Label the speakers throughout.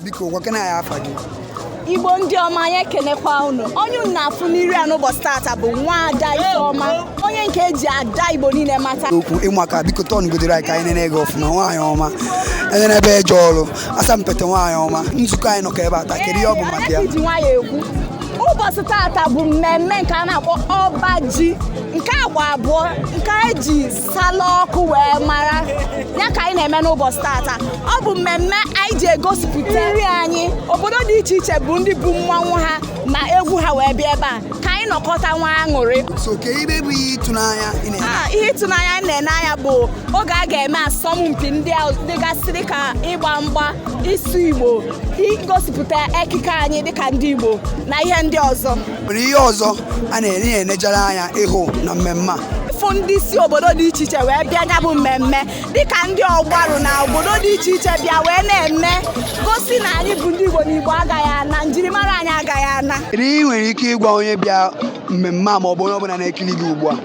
Speaker 1: biko gwakene anyị afa gị igbo
Speaker 2: ndị ọma anyị ekenekwa unu onye unu na-afụ n'iru a n'ụbọchị tata bụ nwada ifeọma onye nke eji ada igbo niile mata okwu ị maka biko
Speaker 1: turn godoro anyị ka anyị nene gị ọfụma nwaanyị ọma enenebe eje ọrụ asampete nwaanyị ọma nzukọ anyị nọkọ ebe a taa kedu ihe ọ bụ maka ya ji nwayọ ekwu
Speaker 2: ụbọchị tata bụ mmemme nke a na-akpọ ọba ji nke agba abụọ nke eji sala ọkụ wee mara ya ka anyị na-eme n'ụbọchị tata ọ bụ mmemme anyị ji egosipụta nri anyị obodo dị iche iche bụ ndị bu mmanwụ ha na egwu ha wee bịa ebe a ka anyị nọkọta nwee aṅụrị so kee ihe bụ
Speaker 1: ihe ịtụnanya ị na-ene anya ihe ịtụnanya
Speaker 2: anyị na-ene anya bụ oge a ga-eme asọmpi ndị a dịgasị dịka ịgba mgba ịsụ igbo igosipụta ekike anyị dịka ndị igbo na ihe ndị ọzọ nwere ihe
Speaker 1: ọzọ a na-ere ya enejere anya ịhụ na mmemme a ịfụ ndị si
Speaker 2: obodo dị iche iche wee bịa ya bụ mmemme dịka ndị ọgbarụ na obodo dị iche iche bịa wee na-eme gosi na anyị bụ ndị Igbo na Igbo agaghị ana njirimara anyị agaghị ana kedu ihe ị nwere ike
Speaker 1: ịgwa onye bịa mmemme a ma ọ bụ onye ọbụla na-ekiri gị ugbu a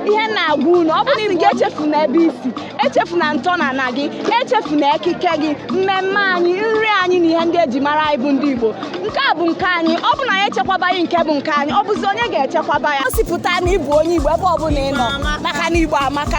Speaker 1: ihe m na-agwa
Speaker 2: unu ọ bụrụ na gị echefuna ebe i si echefuna ntọnaana gị echefuna ekike gị mmemme anyị nri anyị na ihe ndị eji mara anyị bụ ndị Igbo nke a bụ nke anyị ọ bụ na anyị echekwabaghị nke bụ nke anyị ọ bụzi onye ga-echekwaba ya gosipụta na ị bụ onye Igbo ebe ọ bụla ị nọ maka na Igbo amaka